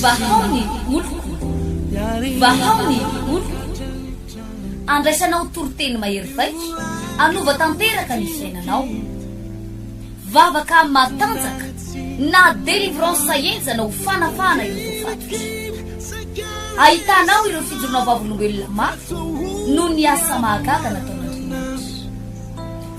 Vahao ny oloko, vahao ny oloko, andraisanao toriteny mahery vaika, anova tanteraka ny fiainanao. Vavaka matanjaka na délivrance henjana ho fanafahana ireo voafatotra. Ahitanao ireo fijoroana vavolombelona mafy noho ny asa mahagaga nataon'Andriamanitra.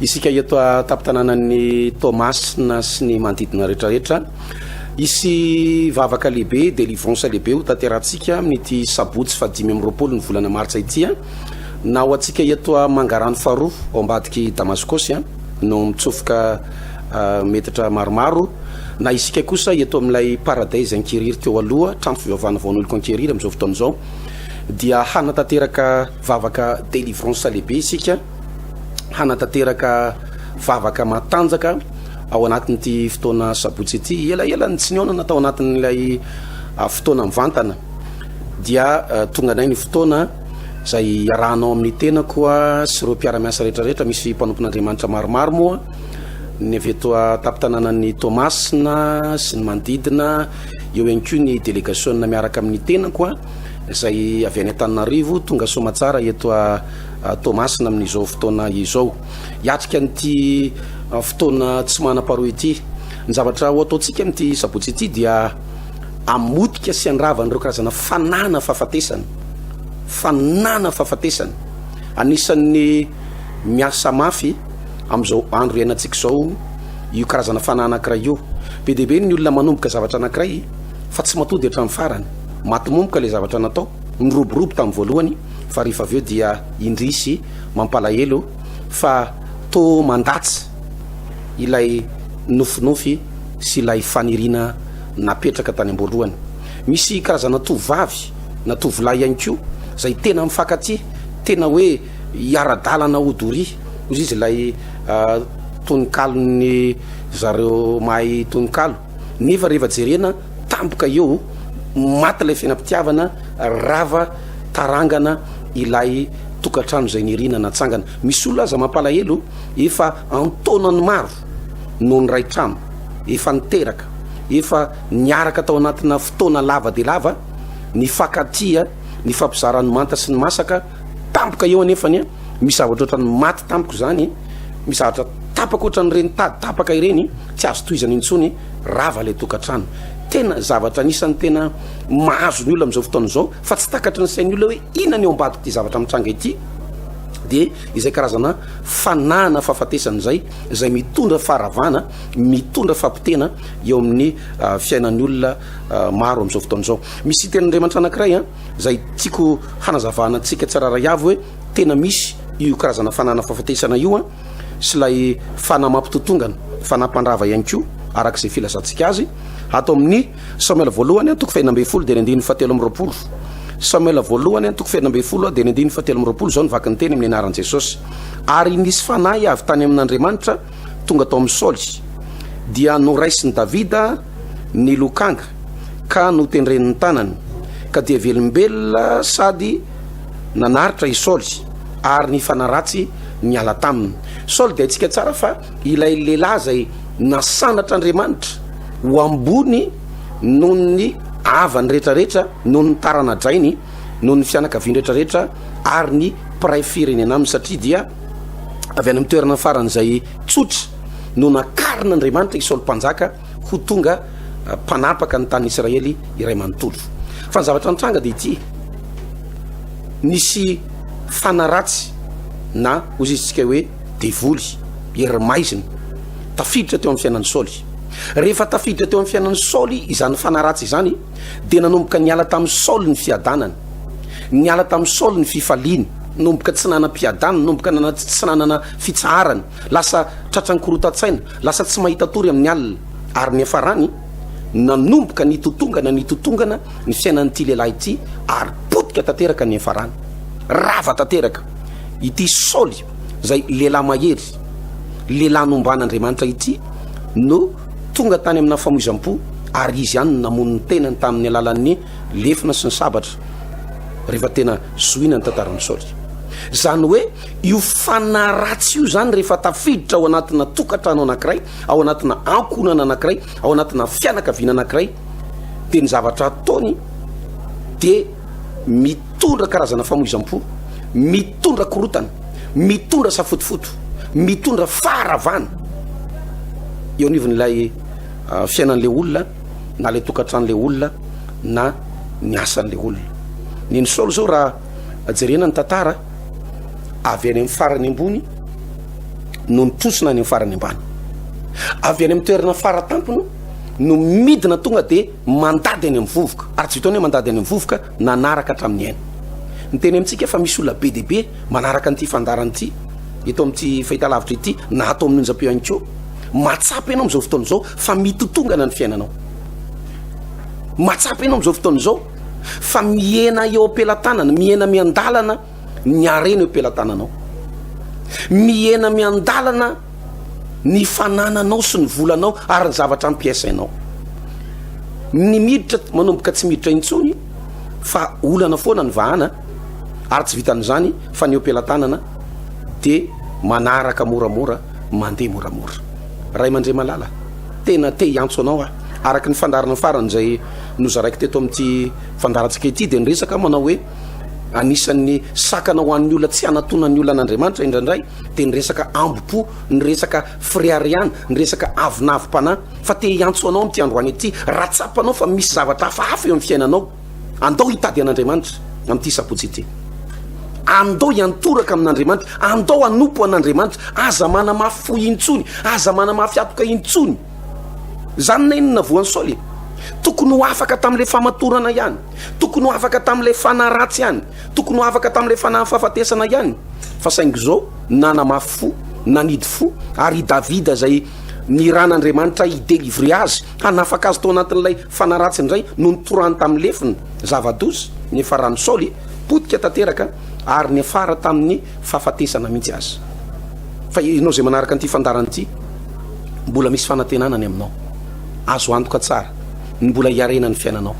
Isika eto an-tampon-tanànan'i Toamasina sy ny manodidina rehetrarehetra, hisy vavaka lehibe, délivrance lehibe ho tanterahantsika amin'ity sabotsy fahadimy amby roapolo ny volana martsa ity an. Na ho antsika eto a Mangarano faharoa ao ambadik'i Damaskosy an, no mitsofoka metatra maromaro, na isika kosa eto amin'ilay Paradise Ankieriry teo aloha, trano fivavahana vaon'oloko Ankieriry amin'izao fotoana izao, dia hanatanteraka vavaka délivrance lehibe isika. hanatanteraka vavaka matanjaka ao anatin'ity fotoana sabotsy ity elaela ny tsy niaonana tao anatin'ilay ah, fotoana mivantana dia ah, tonga nay ny fotoana izay arahanao amin'ny tena koa sy ireo mpiaramiasa rehetrarehetra misy mpanompon'andriamanitra maromaro moa ny avy eto tampitananan'ny tomasina sy ny manodidina eo ihany koa ny delegasiona miaraka amin'ny tena koa izay avy any an-taninarivo tonga somatsara eto Toamasina amin'izao fotoana izao. Hiatrika an'ity fotoana tsy manam-paharoa ity. Ny zavatra ho ataontsika amin'ity sabotsy ity dia hamotika sy handrava an'ireo karazana fanana fahafatesana. Fanana fahafatesana. Anisan'ny miasa mafy amin'izao andro iainantsika izao io karazana fanahy anankiray io. Be dia be ny olona manomboka zavatra anankiray fa tsy matoa dia hatramin'ny farany. Maty momboka ilay zavatra natao. Niroborobo tamin'ny voalohany fa rehefa avy eo dia indrisy mampalahelo fa toa mandatsa ilay nofinofy sy ilay faniriana napetraka tany amboalohany. Misy karazana tovovavy na tovolahy ihany koa izay tena mifankatia, tena hoe hiara-dalana ho doria, hoy izy ilay tononkalon'ny zareo mahay tononkalo, nefa rehefa jerena tampoka eo maty ilay fiainam-pitiavana rava tarangana ilay tokantrano izay niriana natsangana misy olona aza mampalahelo efa antaonany maro no niray trano efa niteraka efa niaraka tao anatina fotoana lava dia lava nifankatia nifampizara ny manta sy ny masaka tampoka eo anefa ny misy zavatra ohatra ny maty tampoka izany misy zavatra tapaka ohatra ny reny tady tapaka ireny tsy azo tohizana intsony Rava ilay tokantrano. Tena zavatra anisan'ny tena mahazo ny olona amin'izao fotoana izao fa tsy takatry ny sain'ny olona hoe inona ny ao ambadik'ity zavatra mitranga ity dia izay karazana fanahana fahafatesana izay izay mitondra faharavana, mitondra fampitena eo amin'ny uh, fiainan'ny olona uh, maro amin'izao fotoana izao. Misy tenin'Andriamanitra anankiray an, ah, izay tiako hanazavana antsika tsirairay avy hoe tena misy io karazana fanahana fahafatesana io an, ah, sy ilay fanahy mampitotongana, fanahy mpandrava ihany koa, araka izay filazantsika azy, ato amin'ny Samoela voalohany an, toko fahina ambin'ny folo dia ny andininy fahatelo amby roapolo. Samoela voalohany an, toko fahina ambin'ny folo dia ny andininy fahatelo amby roapolo, izao ny vaky ny teny amin'ny anaran'i Jesosy. Ary nisy fanahy avy tany amin'Andriamanitra tonga tao amin'i Saoly, dia noraisin'i Davida ny lokanga ka notendren'ny tanany, ka dia velombelona sady nanaritra i Saoly ary nifanaratsy niala taminy. Saoly dia haintsika tsara fa ilay lehilahy izay nasanatr'Andriamanitra ho ambony noho ny havany rehetrarehetra, noho ny tarana-drainy, noho ny fianakaviany rehetrarehetra ary ny mpiray firenena aminy, satria dia avy any amin'ny toerana faran'izay tsotra no nakarin'Andriamanitra i Saoly Mpanjaka. ho tonga mpanapaka ny tanin'i Israely iray manontolo. Fa ny zavatra nitranga dia ity, nisy fanaratsy na hozizintsika hoe devoly, hery maizina, tafiditra teo amin'ny fiainan'i Saoly. Rehefa tafiditra teo amin'ny fiainan'i Saoly izany fanaratsy izany dia nanomboka niala tamin'i Saoly ny fiadanany, niala tamin'i Saoly ny fifaliany, nomboka tsy nanam-piadanana, nomboka tsy nanana fitsaharana. Lasa tratran'ny korontan-tsaina, lasa tsy mahita tory amin'ny alina. Ary niafarany, nanomboka nitotongana nitotongana ny fiainan'ity lehilahy ity ary potika tanteraka niafarany. Rava tanteraka. Ity Saoly izay lehilahy mahery, lehilahy nomban'Andriamanitra ity no tonga tany amina famoizam-po ary izy ihany no namono ny tenany tamin'ny alalan'ny lefona sy ny sabatra rehefa tena zohina ny tantaran'i Saoly. Izany hoe Io fanahy ratsy io izany rehefa tafiditra ao anatina tokantrano anankiray, ao anatina ankohonana anankiray, ao anatina fianakaviana anankiray, dia ny zavatra ataony dia mitondra karazana famoizam-po, mitondra korotana, mitondra safotofoto, mitondra faharavana eo anivon'ilay ah, fiainan'ilay olona na ilay tokantran'ilay olona na ny asan'ilay olona. Ny ny Saoly izao raha jerena ny tantara avy any amin'ny farany ambony no nitrosona any amin'ny farany ambany avy any amin'ny toerana faratampony no midina tonga dia mandady any amin'ny vovoka ary tsy vitaony hoe mandady any amin'ny vovoka nanaraka hatramin'ny aina ny teny amintsika fa misy olona be dia be manaraka an'ity fandarana ity eto amin'ity fahitalavitra ity na ato amin'ny onjam-peo ihany koa mahatsapa ianao amin'izao fotoana izao fa mitotongana ny fiainanao mahatsapa ianao amin'izao fotoana izao fa mihena eo am-pelatanana, mihena miandalana ny harena eo am-pelatananao, mihena miandalana ny fanananao sy ny volanao ary ny zavatra ampiasainao. Ny miditra manomboka tsy miditra intsony fa olana foana ny vahana ary tsy vitan'izany fa ny eo am-pelatanana dia manaraka moramora, mandeha moramora. Ray aman-dRemalala, tena te hiantso anao aho araka ny fandaharana farany izay nozaraiko teto amin'ity fandaharantsika ity dia niresaka aho manao hoe anisan'ny sakana ho an'ny olona tsy hanatona ny olan'Andriamanitra indraindray dia niresaka ambo-po, niresaka fireharehana, niresaka avonavim-panahy fa te hiantso anao amin'ity androany ity raha tsapanao fa misy zavatra hafahafa eo amin'ny fiainanao andao hitady an'Andriamanitra amin'ity sabotsy ity andao hiantoraka amin'Andriamanitra andao hanompo an'Andriamanitra aza manamafy fo intsony aza manamafy atoka intsony Zany na inona voan'i Saoly e! Tokony ho afaka tamin'ilay famatorana ihany, tokony ho afaka tamin'ilay fanahy ratsy ihany, tokony ho afaka tamin'ilay fanahin'ny fahafatesana ihany, fa saingy izao nanamafy fo, nanidy fo, ary i Davida izay niran'Andriamanitra hi-delivrer azy, hanafaka azy tao anatin'ilay fanahy ratsy indray no nitorahany tamin'ny lefona, zava-doza, niafaran'i Saoly, potika tanteraka, ary niafara tamin'ny fahafatesana mihitsy aza. Fa ianao izay manaraka an'ity fandaharana ity, Mbola misy fanantenana ny aminao. Azo antoka tsara ny mbola hiarena ny fiainanao.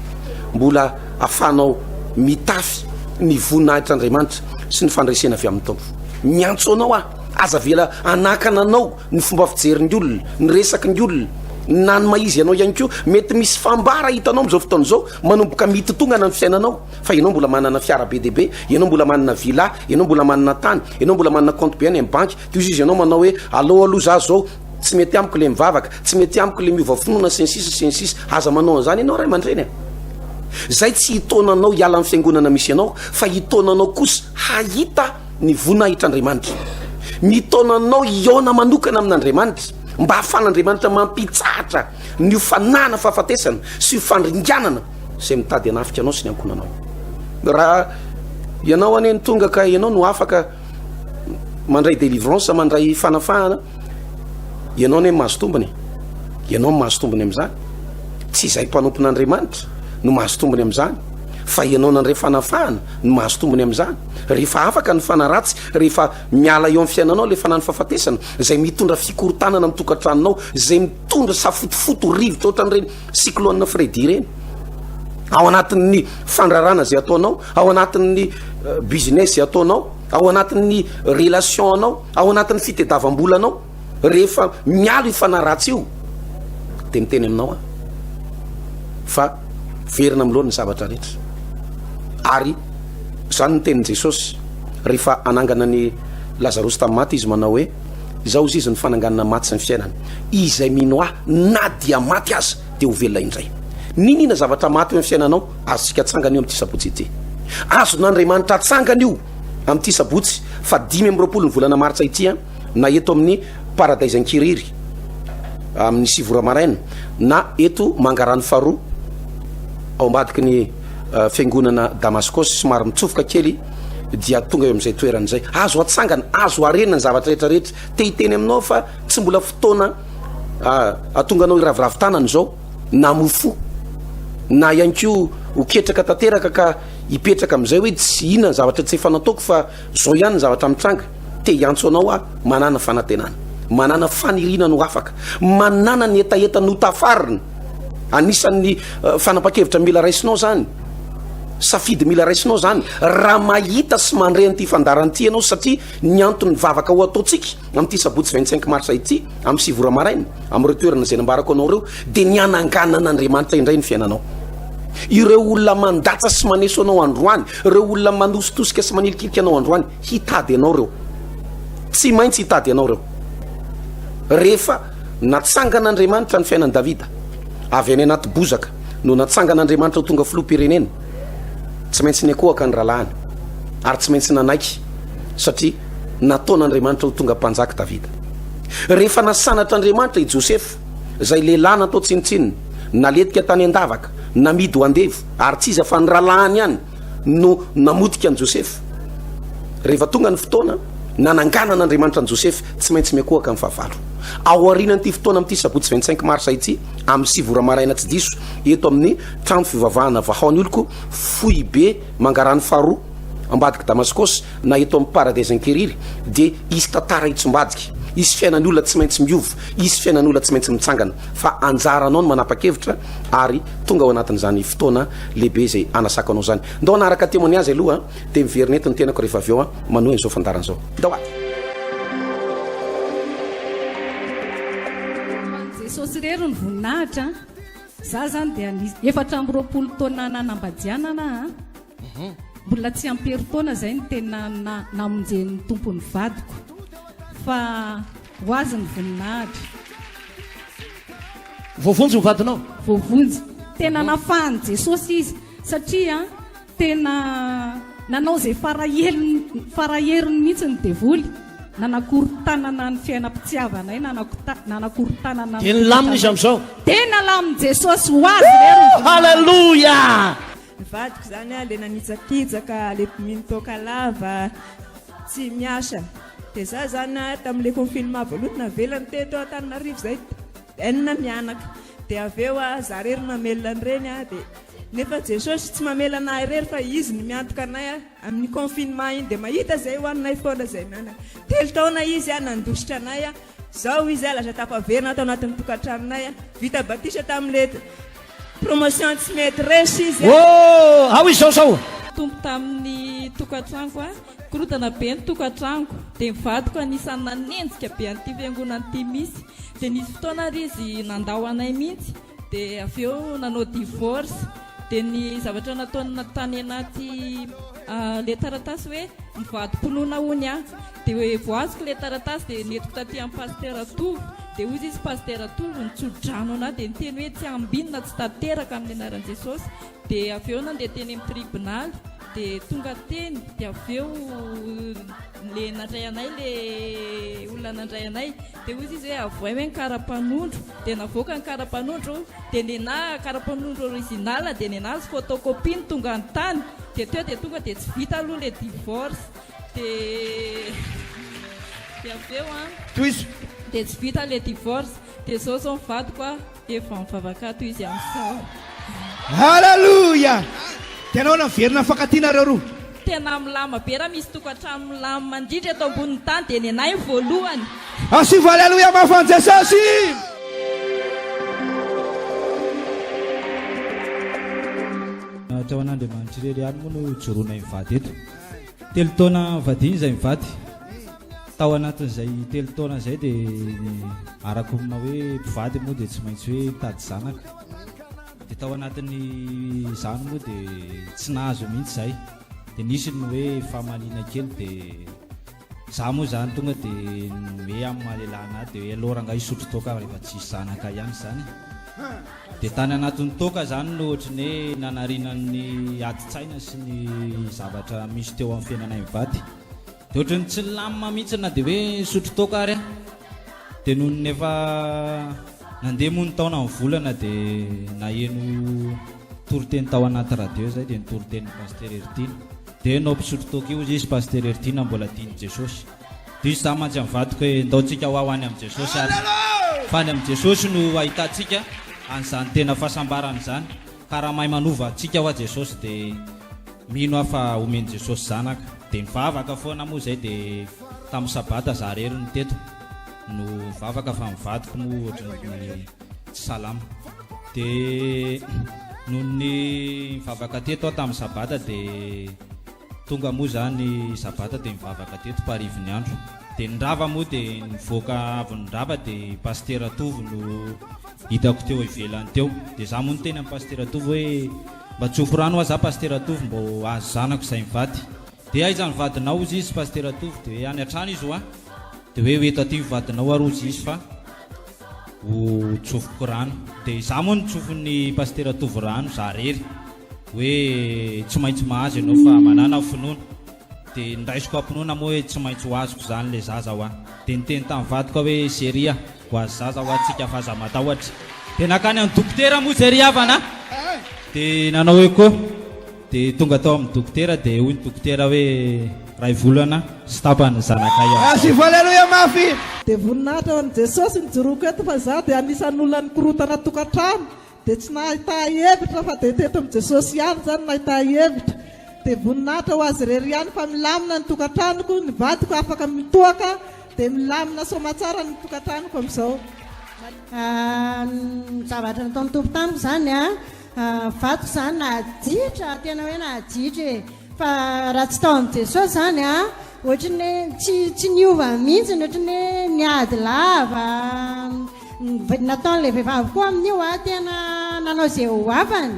Mbola afahanao mitafy ny voninahitr'Andriamanitra sy ny fandresena avy amin'ny Tompo. Miantso anao aho, aza avela hanakana anao ny fomba fijerin'ny olona, ny resaky ny olona, na ny maha-izy anao ihany koa. Mety misy fambara hitanao amin'izao fotoana izao manomboka mitotongana ny fiainanao, fa ianao mbola manana fiara be dia be, ianao mbola manana villa, ianao mbola manana tany, ianao mbola manana compte be any amin'ny banky, Toy izy ianao manao hoe allo allo za zao tsy mety amiko le mivavaka tsy mety amiko le miova finoana sy ny sisa sy ny sisa aza manao an'izany ianao ray aman-dreny a zay tsy hitaonanao hiala ny fiangonana misy ianao fa hitaonanao kosa hahita ny voninahitr'andriamanitra mitaonanao hiaona manokana amin'andriamanitra mba hahafan'andriamanitra mampitsahatra ny ho fanahana fahafatesana sy ho fandringanana zay mitady anafika anao sy ny ankonanao raha ianao anie ny tonga ka ianao no afaka mandray délivrance mandray fanafahana ianao ne mahazo tombony ianao mahazo tombony am'izany tsy izay mpanompon'andriamanitra no mahazo tombony am'izany fa ianao nandray fanafahana no mahazo tombony am'izany rehefa afaka ny fanaratsy rehefa miala eo am'ny fiainanao le fanany fahafatesana zay mitondra fikorotanana mitokatranonao zay mitondra safotofoto rivotra ohatran'ireny cyclone fredi ireny ao anatin'ny fandrarana zay ataonao Ao anatin'ny business ataonao, ao anatin'ny relation anao, ao anatin'ny fitedavambolanao, rehefa mialo io fanahy ratsy io de miteny aminao aho fa verina amin'ny lohan'ny zavatra rehetra. Ary zany ny tenin'i Jesosy rehefa anangana ny Lazarosy tamin'ny maty izy manao hoe izao izy izy ny fananganana ny maty sy ny fiainana. Izay mino ahy na dia maty aza de ho velona indray. Niniana zavatra maty eo amin'ny fiainanao? Azontsika atsangana io amin'ity sabotsy ity. Azon'Andriamanitra atsangana io amin'ity sabotsy faha dimy amby roapolo ny volana martsa ity an, na eto amin'ny Paradise Ankiriry amin'ny sivy ora maraina na eto Mangarano faharoa ao ambadiky ny fiangonana Damaskosy somary mitsofoka kely dia tonga eo amin'izay toerana izay. Azo atsangana, azo harena ny zavatra rehetra rehetra. Te hiteny aminao aho fa tsy mbola fotoana ahatonga anao hiraviravy tanana izao. na mofo na ihany koa ho ketraka tanteraka ka hipetraka amin'izay hoe tsy inona ny zavatra tsy efa nataoko fa zao ihany ny zavatra mitranga te hiantso anao aho manana fanantenana manana faniriana no afaka manana ny hetaheta no tafarina anisan'ny eh, fanapa-kevitra mila raisinao zany safidy mila raisinao zany raha mahita sy mandre an'ity fandaran'ity ianao satria ny anton'ny vavaka ho ataontsika Amin'ity sabotsy vingt cinq mars ity, amin'ny sivy ora maraina, amin'ireo toerana izay nambarako anao ireo, dia ny hananganan'Andriamanitra indray ny fiainanao. Ireo olona mandatsa sy maneso anao androany, ireo olona manositosika sy manilikilika anao androany, hitady anao ireo. Tsy maintsy hitady anao ireo. Rehefa natsangan'Andriamanitra ny fiainan'i Davida, avy any anaty bozaka no natsangan'Andriamanitra ho tonga filoham-pirenena, tsy maintsy niankohaka ny rahalahiny ary tsy maintsy nanaiky satria nataon'Andriamanitra ho tonga mpanjaka Davida. Rehefa nasanatr'Andriamanitra i Josefa, izay lehilahy natao tsinontsinona, naletika tany an-davaka, namidy ho andevo, ary tsy iza fa ny rahalahiny ihany no namotika an'i Josefa. Rehefa tonga ny fotoana nananganan'Andriamanitra an'i Josefa, tsy maintsy miankohaka amin'ny fahavalo. Ao aorianan'ity fotoana amin'ity sabotsy 25 marsa ity, amin'ny sivy ora maraina tsy diso, eto amin'ny trano fivavahana Vahaon'oloko, foibe Mangarano faharoa, Ambadik'i Damaskosy na eto amin'ny Paradaisan-kery-ry dia hisy tantara hitsombadika, hisy fiainan'ny olona tsy maintsy miova, hisy fiainan'olona tsy maintsy mitsangana. Fa anjaranao ny manapa-kevitra ary tonga ao anatin'izany fotoana lehibe izay hanasako anao izany. Ndao hanaraka témoignage aloha dia miverina eto ny tenako rehefa avy eo manohy an'izao fandaharana izao. Ndao a! Hoan'i Jesosy irery ny voninahitra a! Za zany dia nisy efatra amby roapolo taona nanambadianana a! Mbola tsy am-perin-taona izay no tena namonjen'ny Tompo ny vadiko, fa ho Azy ny voninahitra. Voavonjy ny vadinao? Voavonjy. Tena nafahan'i Jesosy izy, satria tena nanao izay fara heliny, fara heriny mihitsy ny devoly, nanakorontanana ny fiainam-pitiavanay, nanakota- nanakorontanana ny Dia nilamina izy fiainam-pitiavanay. amin'izao? Dia nalamin'i Jesosy, ho Azy re ny voninahitra. Haleloia! Ny vadiko izany a, le nanitsakitsaka, le mino toaka lava, tsy miasa. Dia izaho izany a, tamin'ilay confinement voalohany navelany teto Antananarivo izay, enina mianaka. Dia avy eo a, izaho irery no namelona ny reny a, dia nefa Jesosy tsy mamela anay irery fa Izy no miantoka anay a, amin'iny confinement iny dia mahita izay hohaninay foana izay mianaka. Telo taona Izy a, nandositra anay a. Zao izy lasa tafaverina ato anatin'ny tokantranonay vita batisa tamin'le promotion tsy mety resy izy oh ao izao zao tompo tamin'ny tokantranoko a korotana be ny tokantranoko dia mivadiko anisan'ny nanenjika be an'ity fiangonana ity misy dia nisy fotoana ary izy nandao anay mihitsy dia avy eo nanao divorce dia ny zavatra nataony tany anaty le taratasy hoe mivadi-pinoana hono aho dia hoe voaziko le taratasy dia nentiko taty amin'ny pasitera Tovo dia hoy izy pasitera Tovo ny tsodrano anah dia niteny hoe tsy ambinina tsy tanteraka amin'ny anaran'i Jesosy dia avy eo nandeha teny amin'ny tribonaly dia tonga teny dia avy eo le nandray anay le olona nandray anay Dia hoy izy hoe avohay hoe ny karapanondro, dia navoaka ny karapanondro, dia nenaha karapanondro original, dia nenaha izy photocopie no tonga any tany, dia teo dia tonga dia tsy vita aloha ilay divorce, dia dia avy eo an, Tohizo. dia tsy vita ilay divorce, dia izao izao ny vadiko an. Dia vao mivavaka ato izy amin'izao. Aleloia! Dia nahoana no very nahafankatia nareo roa? Tena milama be raha misy tokantrano milamina indrindra eto ambonin'ny tany dia nenay ny voalohany. Asivo aleloia mafy an'i Jesosy! Ohatra ho an'Andriamanitra irery ihany moa no hijoroanay mivady eto. Telo taona vadiana izay mivady. Tao anatin'izay telo taona izay dia ny arako amina hoe mpivady moa dia tsy maintsy hoe mitady zanaka. Dia tao anatin'izany moa dia tsy nahazo mihitsy izay. Dia nisy ny hoe famaliana kely dia za moa zany tonga dia hoe amin'ny maha lehilahy anahy dia hoe aleo rangahy hisotro toaka rehefa tsisy zanaka ihany izany. Dia tany anatin'ny toaka izany no ohatry ny hoe nanariana ny adin-tsaina sy ny zavatra misy teo amin'ny fiainanay mivady. Dia ohatry ny tsy nilamina mihitsy na dia hoe nisotro toaka ary aho. Dia nony efa nandeha moa ny taona, ny volana dia naheno toriteny tao anaty radio izay dia ny toritenin'i Pasitera Heridina. Dia enao mpisotro toaka io hozy izy, Pasitera Heridina mbola tian'i Jesosy. Dia hoy izaho mantsy amin'ny vadiko hoe ndao tsika ho aho any amin'i Jesosy ary fa any amin'i Jesosy no ahitantsika an'izany tena fahasambarana izany. Ka raha mahay manova antsika hoa Jesosy de mino aho fa homen'i Jesosy zanaka de mivavaka foana moa zay de tamin'ny sabata za rery no teto no vavaka fa ny vadiko moa ohatran'ny tsy salama de nony nivavaka teto aho tamin'ny sabata de Tonga moa izany sabata dia nivavaka teto parivin'ny andro dia ny rava moa dia nivoaka avy ny rava dia pasitera Tovo no hitako teo ivelany teo dia za moa niteny amin'ny pasitera Tovo hoe mba tsofy rano hoa za pasitera Tovo mba ho azo zanako izay mivady dia aiza ny vadinao hozy izy pasitera Tovo dia hoe any an-trano izy hoa dia hoe ho eto aty ny vadinao ary hozy izy fa ho tsofiko rano dia za moa nitsofy ny pasitera Tovo rano za rery hoe tsy maintsy mahazo ianao fa manana aho finoana dia nindaisiko am-pinoana moa hoe tsy maintsy ho azoko izany ilay zaza hoa dia niteny tamin'ny vadiko aho hoe chérie a ho azy zaza hoa tsika fa aza matahotra dia nankany amin'ny dokotera moa izay ry havana dia nanao echo dia tonga tao amin'ny dokotera dia hoy ny dokotera hoe iray volana sy tapany ny zanakay ao Merci fo Alléluia mafy. Dia voninahitra ho an'i Jesosy nijoroako eto fa izaho dia anisan'ny olona nikorotana tokantrano Dia tsy nahita hevitra fa dia teto amin'i Jesosy ihany izany no nahita hevitra. Dia voninahitra ho Azy irery ihany fa milamina ny tokantranoko, ny vadiko afaka mitoaka, dia milamina soamatsara ny tokantranoko amin'izao. Ny zavatra nataon'ny Tompo tamiko izany an, vadiko izany nahajitra, tena hoe nahajitra e. Fa raha tsy tao amin'i Jesosy izany an, ohatran'ny hoe tsy tsy niova mihitsy, ohatran'ny hoe niady lava. nataon'ilay vehivavy koa amin'io aho tena nanao izay ho afany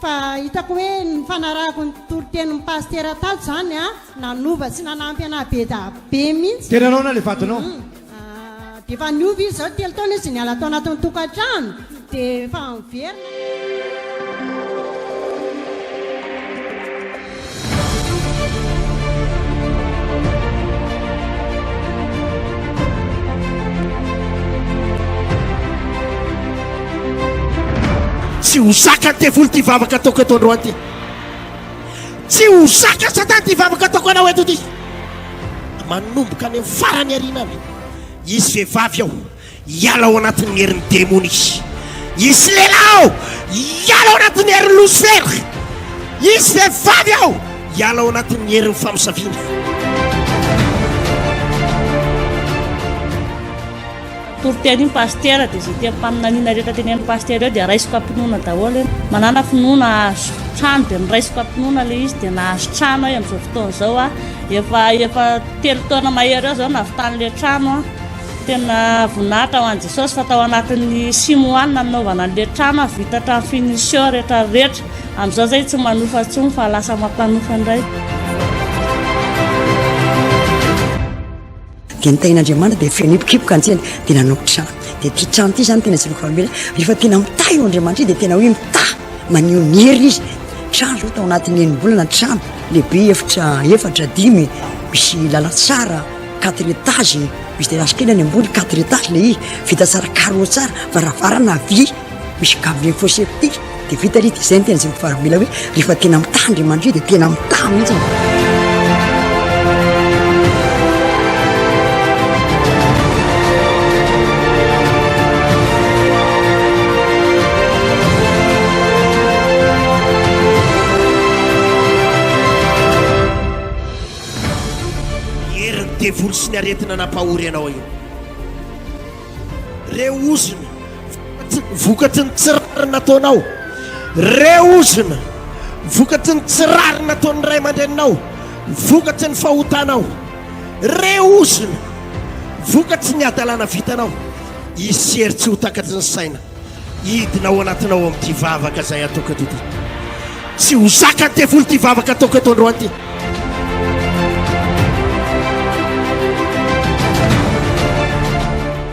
fa hitako hoe nifanarahako ny toritenin'ny pasitera tato izany a nanova sy nanampy anah be da be mihitsy tena naona le vadinao dia efa niova izy izao telo taona izy niala tao anatin'ny tokantrano dia efa miverina tsy ho zaka ny devoly ty vavaka ataoko eto androany ty tsy ho zaka satana ty vavaka ataoko anao eto ty manomboka any amin'ny farany arina any hisy vehivavy ao Hiala ao anatin'ny herin'ny demony izy. Hisy lehilahy ao, hiala ao anatin'ny herin'i Losifera. Hisy vehivavy ao, hiala ao anatin'ny herin'ny famosaviana. Toroteny pasitera dia izay tem-paminaniana rehetra tenenin'ny pasitera eo dia raisiko am-pinoana daholo eo. Manana finoana ahazo trano dia noraisiko am-pinoana ilay izy dia nahazo trano aho amin'izao fotoana izao aho. Efa efa telo taona mahery eo izao navitan'ilay trano aho. Tena voninahitra ho an'i Jesosy fa tao anatin'ny six mois no nanaovana an'ilay trano ary vita hatramin'ny finition rehetra rehetra. Amin'izao izay tsy manofa intsony fa lasa mampanofa indray. dia ny tahin'Andriamanitra dia feno hipokipoka antsena dia nanao trano dia ty trano ty zany tena tsiloko famela rehefa tena mitaha io Andriamanitra io dia tena hoe mitaha maneho ny heriny izy trano zao tao anatin'ny enimbolana trano lehibe efitra efatra dimy misy lalantsara quatre étage misy terrasse kely any ambony quatre étage le izy vita tsara carreaux tsara varavarana vy misy gabier faux safety de vita le izy de zay ny tena zay mivarotra mila hoe rehefa tena mitaha andriamanitry de tena mitaha mihitsy Herin'ny devoly sy ny aretina nampahory anao io. Re ozona, vokatry ny tsy rariny nataonao. Re ozona, vokatry ny tsy rariny nataon'ny ray aman-dreninao, vokatry ny fahotanao. Re ozona, vokatry ny hadalana vitanao. Hisy hery tsy ho takatry ny saina. Hidina ao anatinao amin'ity vavaka izay ataoko eto ity. Tsy ho zakan'ny devoly ity vavaka ataoko eto androany ity.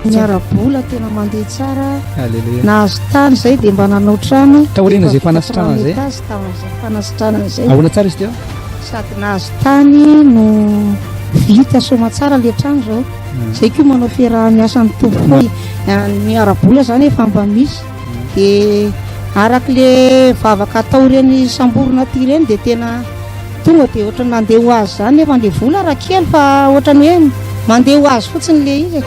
Ny ara-bola tena mandeha tsara. Alléluia. Nahazo tany izay dia mba nanao trano. Taoriana izay fanasitrana izay. Tamin'izay fanasitrana izay. Ahoana tsara izy teo? Sady nahazo tany no vita soamantsara ilay trano izao. Zay koa manao fiaraha-miasa ny Tompo koa ny ara-bola zany efa mba misy de araka le vavaka atao ireny samborina aty ireny de tena tonga de ohatra nandeha ho azy zany nefa le vola raha kely fa ohatra ny hoe mandeha ho azy fotsiny le izy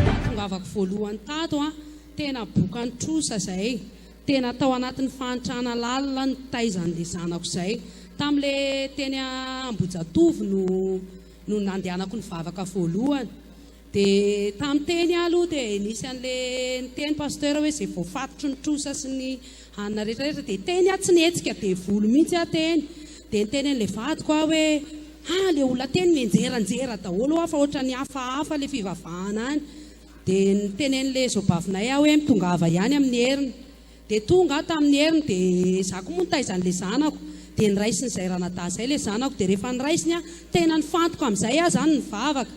Nahatongavako voalohany tato an, tena bokan'ny trosa izay, tena tao anatin'ny fahantrana lalina nitaiza an'ilay zanako izay. Tamin'ilay teny Ambohijatovo no no nandehanako nivavaka voalohany. Dia tamin'ny teny aho aloha dia nisy an'le niteny pasteur hoe izay voafatotry ny trosa sy ny hanina rehetra rehetra dia teny aho tsy nihetsika devoly mihitsy aho teny dia niteny an'le vadiko aho hoe ha le olona teny mianjeranjera daholo ho'a fa ohatran'ny hafahafa le fivavahana any dia niteny an'le zobavinay aho hoe mitongava ihany amin'ny heriny dia tonga aho tamin'ny heriny dia za koa moa nitaiza an'le zanako dia niraisin'izay ranadahy izay le zanako dia rehefa niraisiny aho tena nifantoka amin'izay aho zany nivavaka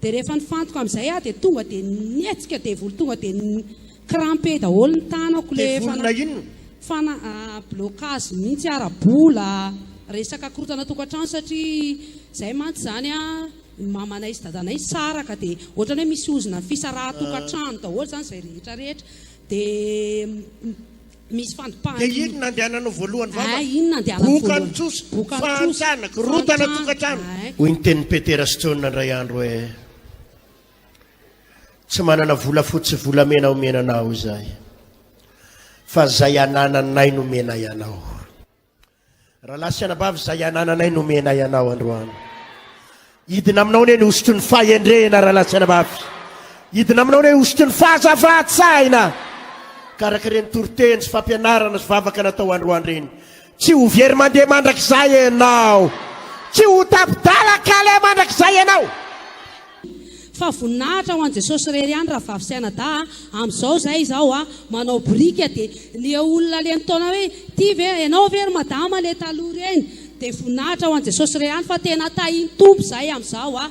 Dia rehefa nifantoka amin'izay aho dia tonga dia nihetsika devoly tonga dia ni-cramper daholo ny tanako ilay fana- Devolina inona? fana- ah, blocage mihitsy ara-bola, resaka korontana tokantrano satria izay mantsy izany an, mamanay sy dadanay nisaraka dia ohatran'ny hoe misy ozona fisarahan-tokantrano daholo izany izay rehetra rehetra dia Misy fandopahana iny. Dia iny nandehananao voalohany vavaka. Ay, iny nandehanako voalohany. Boka ny trosa. Boka ny trosa. Fahantrana, korontana tokantrano. Ay. Hoy ny tenin'i Petera sy Jaona indray andro hoe, Tsy manana volafotsy sy volamena homena anao izahay, fa izay anananay no omenay anao. Rahalahy sy anabavy, izay anananay no omenay anao androany. Hidina aminao anie ny hosotry ny fahendrena, rahalahy sy anabavy. Hidina aminao anie ny hosotry ny fahazavan-tsaina. Karaka ireny toriteny sy fampianarana sy vavaka natao androany ireny. Tsy ho very mandeha mandrakizay ianao. Tsy ho tapi-dalakale mandrakizay ianao. Fa voninahitra ho an'i Jesosy irery ihany rahavavy sy anadahy a! Amin'izao izay izaho a! manao boriky a! dia ny eo olona le nitaona hoe ity ve ianao ve ry madama le taloha ireny? dia voninahitra ho an'i Jesosy irery ihany fa tena tahin'ny Tompo izay amin'izao a!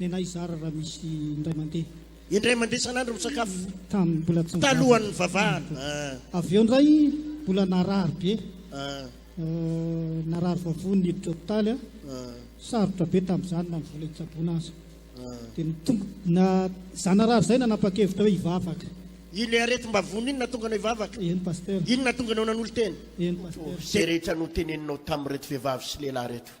Nenay zara raha misy indray mandeha. Indray mandeha isan'andro misakafo. Tamin'ny mbola tsy. Talohan'ny vavahana. Avy eo indray mbola narary be. Narary vavony niditra hopitaly aho. Sarotra be tamin'izany na ny vola hitsaboana aza. Dia nitombo na izany narary izay nanapa-kevitra hoe hivavaka. Ilay aretim-bavony iny nahatonga anao hivavaka? Eny Pasteur. Iny nahatonga anao nanolo-tena? Eny Pasteur. Izay rehetra noteneninao tamin'ireto vehivavy sy lehilahy ireto.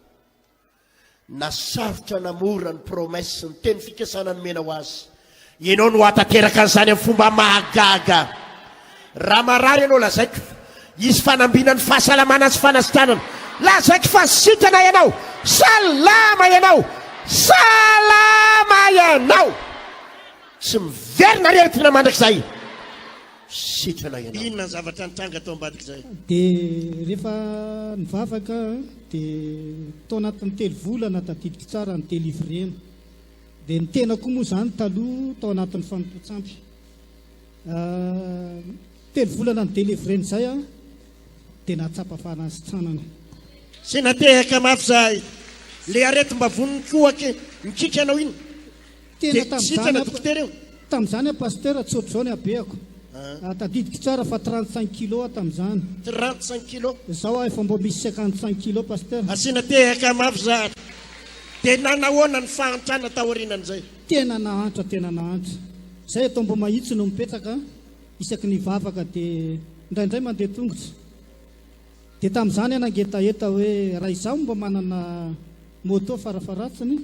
Na sarotra na mora ny promesse, ny teny fikasana nomena ho azy. Ianao no hahatanteraka an'izany amin'ny fomba mahagaga. Raha marary ianao, lazaiko fa hisy fanambinan'ny fahasalamana sy fanasitranana. Lazaiko fa sitrana ianao. Salama ianao. Salama ianao. Tsy miverina aretina mandrakizay. Sitrana ianao. Inona ny zavatra nitranga tao ambadik'izay? Dia rehefa nivavaka dia tao anatin'ny telo volana tadidiko tsara ny delivrena. Dia ny tena koa moa izany taloha tao anatin'ny fanompoan-tsampy. Telo volana ny delivrena izay aho dia nahatsapa fanasitranana. Sy natehaka mafy izahay. Ilay aretim-bavony mikohaka mikiky anao iny. Tena tamin'izany aho, tamin'izany aho Pasteur, tsy ohatr'izao ny habehako. Ah, tadidiko tsara fa 35 kilos aho tamin'izany. 35 kilos? Izao aho efa mbo misy 55 kilos Pasteur. Asiana tehaka mafy izany. Dia nanahoana ny fahantrana taorianan'izay? Tena nahantra, tena nahantra. Izay atao mbo mahitsy no mipetraka, isaky ny vavaka dia indraindray mandeha tongotra. Dia tamin'izany aho nangetaheta hoe raha izaho mbo manana moto farafaharatsiny,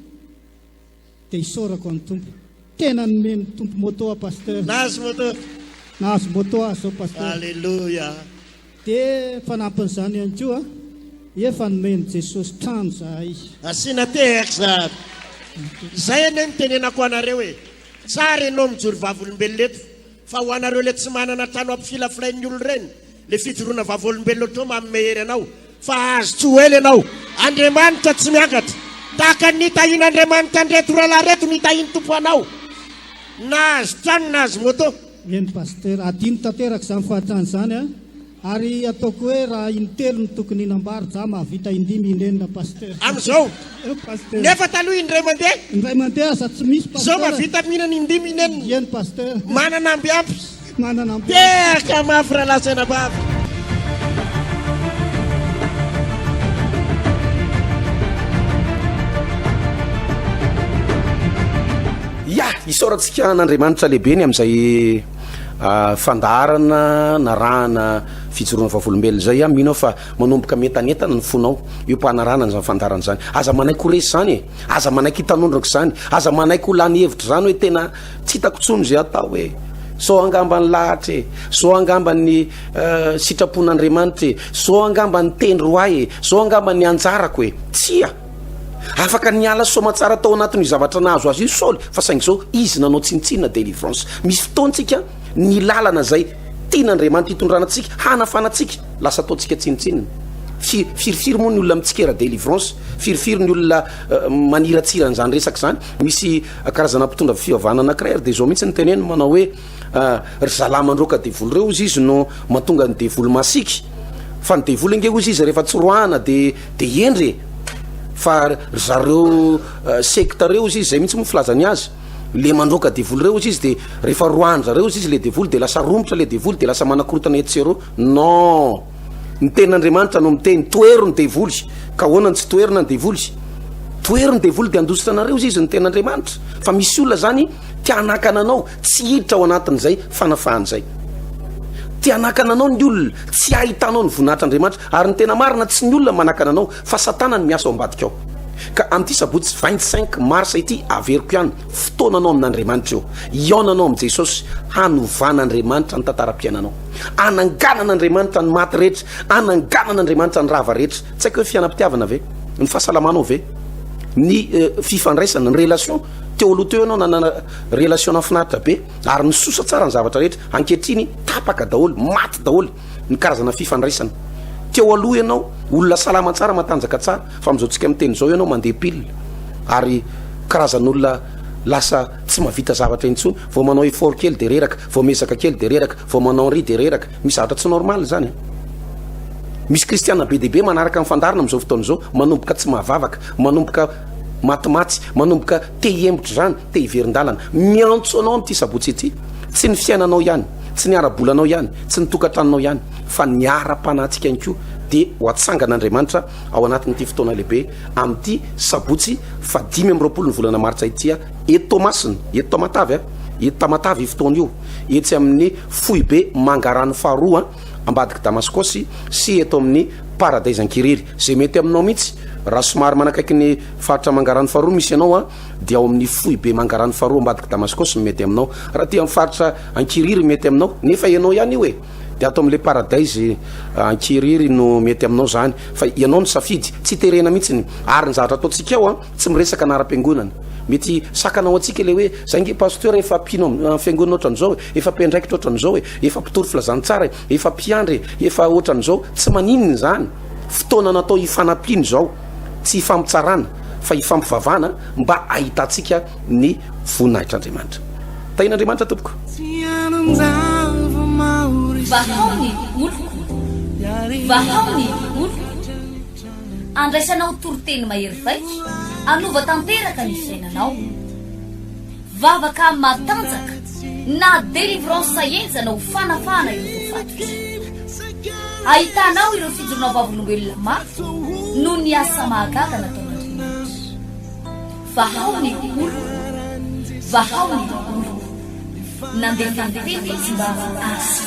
Dia isaorako an'i Tompo. Tena nomen'ny Tompo moto aho Pasteur. Nahazo moto. Nahazo moto aho zao Pasteur. Alléluia. Dia fanampin'izany ihany koa, efa nomen'i Jesosy trano zahay. Asiana TR zany. Izay anie no tenenako anareo e. Tsara ianao mijoro vavolombelona eto. Fa ho anareo le tsy manana trano ampifilafilain'ny olona ireny, le fijoroana vavolombelona otrao manome hery anao fa hahazo tsy ho ela ianao. Andriamanitra tsy miakatra. Tahaka ny nitahian'Andriamanitra an'ireto rahalahy ireto nitahian'ny Tompo anao. Nahazo trano, nahazo moto. Eny Pasitera, adino tanteraka izany fahantrana izany an! Ary ataoko hoe raha intelo no tokony hinam-bary za mahavita indimy inenina pasteur. Amin'izao. Eo pasteur. Nefa taloha indray mandeha. Indray mandeha aza tsy misy pasteur. Zao mahavita mihinana indimy inenina. Eny pasteur. Manana amby ampy. Manana amby ampy. Tehaka mafy rahalahy sy anabavy. Yah! Isaorantsika an'Andriamanitra lehibe ny amin'izay. fandaharana narahana fijoroana vavolombelona izay a mino aho fa manomboka mientanentana ny fonao eo mpanarahana an'izany fandaharana izany aza manaiky ho resy izany e aza manaiky hitanondroka izany aza manaiky ho lany hevitra izany hoe tena tsy hitako tsony izay atao hoe so angamba ny lahatra e so angamba ny sitrapon'andriamanitra e so angamba ny tendry ho ahy e so angamba ny anjarako e tsia Afaka niala soamatsara tao anatin'io zavatra nahazo azy io i Saoly fa saingy izao izy nanao tsinontsinona délivrance. Misy fotoantsika ny lalana izay tian'Andriamanitra hitondrana antsika, hanafana antsika lasa ataontsika tsinontsinona. Fi- Firifiry moa ny olona mitsikera délivrance, firifiry ny olona eh, maniratsira an'izany resaka izany. Misy eh, karazana mpitondra fivavahana anankiray ary dia izao mihitsy ny teneny manao hoe Ah, ry zalahy mandroaka devoly reo ozy izy no matonga ny devoly masiky fa ny devoly ange ozy izy rehefa tsy roahana de de hendry e fa ry zareo eh, sekta reo ozy izy zay mihitsy moa filazany azy le mandroaka devoly reo ozy izy de rehefa roahan-dry zareo ozy izy le devoly de lasa romotra le devoly de lasa manakorotana etsy sy eroa non Ny tenin'Andriamanitra no miteny, tohero ny devoly. Ka ahoana no tsy toherina ny devoly? Tohero ny devoly dia handositra anareo izy izy ny tenin'Andriamanitra. Fa misy olona zany te hanakana anao tsy hiditra ao anatin'izay fanafahana izay. Te hanakana anao ny olona tsy hahitanao ny voninahitr'Andriamanitra. Ary ny tena marina tsy ny olona manakana anao fa Satana no miasa ao ambadika ao. Ka amin'ity sabotsy 25 mars ity averiko ihany Fotoananao amin'Andriamanitra io. Hihaonanao amin'i Jesosy hanovana Andriamanitra ny tantaram-piainanao. Hananganana Andriamanitra ny maty rehetra. Hananganana Andriamanitra ny rava rehetra. Tsy haiko hoe fianam-pitiavana ve? Ny fahasalamanao ve? Ny eh, fifandraisana, ny relation. Teo aloha teo ianao nanana relation nafinaritra be ary nisosa tsara ny zavatra rehetra. Ankehitriny tapaka daholo, maty daholo. ny karazana fifandraisana. Teo aloha ianao olona salama tsara, matanjaka tsara, fa amin'izao tsika miteny izao ianao mandeha pile ary karazan'olona lasa tsy mavita zavatra intsony, vao manao effort kely dia reraka, vao miezaka kely dia reraka, vao manao ry dia reraka, misy zavatra tsy normal izany. Misy kristiana be dia be manaraka ny fandaharana amin'izao fotoana izao, manomboka tsy mahavavaka, manomboka matimaty, manomboka te hihemotra izany, Te hiverin-dalana. Miantso anao amin'ity sabotsy ity. Tsy ny fiainanao ihany, tsy ny ara-bolanao ihany, tsy ny tokantranonao ihany, fa ny ara-panahintsika ihany koa dia ho atsangan'Andriamanitra ao anatin'ity fotoana lehibe amin'ity sabotsy faha dimy amby roapolo ny volana martsa ity a! Eto Toamasina, eto Tamatave a! Eto Tamatave io fotoana io, etsy amin'ny foibe Mangarano faha roa a! ambadik'i Damaskosy sy eto amin'ny Paradaisankirery. Izay mety aminao mihitsy raha somary manakaiky ny faritra Mangarano faha roa misy anao a! dia ao amin'ny foibe Mangarano faharoa ambadiky Damaskosy ny mety aminao. Raha aty amin'ny faritra Ankiriry mety aminao, nefa ianao ihany io e. Dia ato amin'ilay paradise ah, Ankiriry no mety aminao izany, fa ianao no safidy, tsy terena mihitsy ny ary ny zavatra ataontsika ao an, ah, tsy miresaka anaram-piangonana. Mety sakana ao antsika ilay hoe zay nge pasteur efa mpino amin'ny fiangonana ohatran'izao e, efa mpiandraikitra ohatran'izao e, efa mpitory filazantsara e, efa mpiandry e, efa ohatran'izao, tsy maninona izany, fotoana natao hifanampiana izao. tsy hifampitsarana fa hifampivavahana mba hahitantsika ny voninahitr'Andriamanitra. Tahian'Andriamanitra tompoko. Vahao ny oloko, vahao ny oloko, andraisanao toriteny mahery vaika, hanova tanteraka ny fiainanao. Vavaka matanjaka na délivrance enjana ho fanafahana ireo voafatotra. Ahitanao ireo fijoroana vavolombelona mafy noho ny asa mahagaga nataon'Andriamanitra. Vahao ny oloko, vahao ny oloko. Nandeha tany tena izy mba hahasitry.